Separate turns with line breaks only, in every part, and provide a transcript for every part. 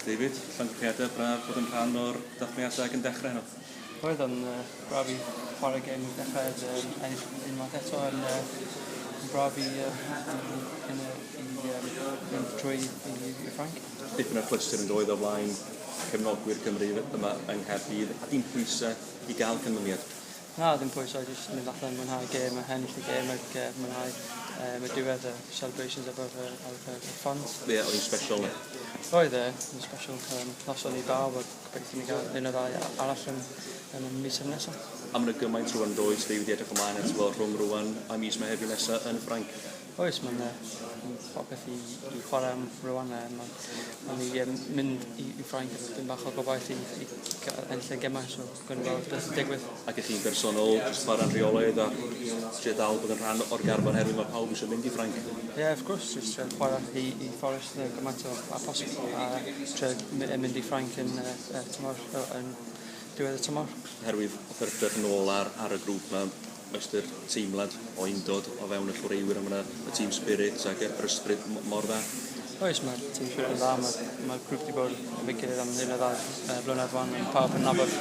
David, llongyfarchiadau braf bod yn rhan o'r dathliadau ac yn dechrau heno. Roedd o'n uh,
braf i chwarae gêm i'r dechreuad, um, ennill unwaith eto yn uh, braf i, uh, i, i, i, um, mynd trwy i, i Ffranc. Dipyn o clyster yn
doedd o flaen cefnogwyr Cymru yma yng Nghaerdydd a dim pwysau i gael canlyniad. Na, ddim pwyso,
jyst mynd allan, mwynhau gêm ac ennill y gêm ac uh, mwynhau um, y diwedd y celebrations above uh, of, uh, the fans. Ie, yeah, oedd special.
Oedd e, oedd
special. Um, noson i bawb ac gobeithio ni gael un o ddau arall yn, yn y mis yn nesaf. A mae'n gymaint
rwan does, dwi wedi edrych ymlaen at weld rhwng rwan a mis mae hefyd nesaf yn Ffranc. Oes,
mae'n popeth i, i chwarae am rwan. Mae'n ma mynd i, i Ffranc, dim bach o gobaith i, i ennill y gemau. So. Gwn fawr beth sy'n digwydd. Ac i chi'n bersonol,
jyst chwarae'n rheolaidd a trio dal bod yn rhan o'r garfan herwydd mae pawb eisiau mynd i Ffrainc. Ie, yeah, of course, jyst
trio chwarae i, i Forest yn gymaint o a posib a trio mynd i Ffrainc yn uh, uh, tymor, yn diwedd y tymor. Herwydd y perpeth
yn ôl ar, ar y grŵp mae ystyr teimlad o undod o fewn y chwaraewyr a ma' 'na y team spirit ag yy yr ysbryd m- mor dda. Oes ma'r team
spirit yn dda ma' ma'r grŵp 'di bod efo'i gilydd am hyn a dda yy blynedd wan ma' pawb yn nabod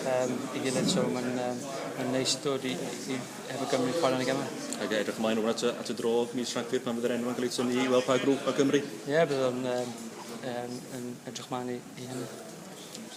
yym 'i gilydd so ma'n yym ma'n neis dod i i hefo Cymru chware yn y geme. Ag edrych ymlaen rŵan at y
at y dro mis Rhagfyr pan fydd yr enwa'n ca'l eu tynnu i weld pa grŵp ma'
Cymru.
Ie
bydd
o'n
yym
yym
yn
edrych
mlan
i i
hynny.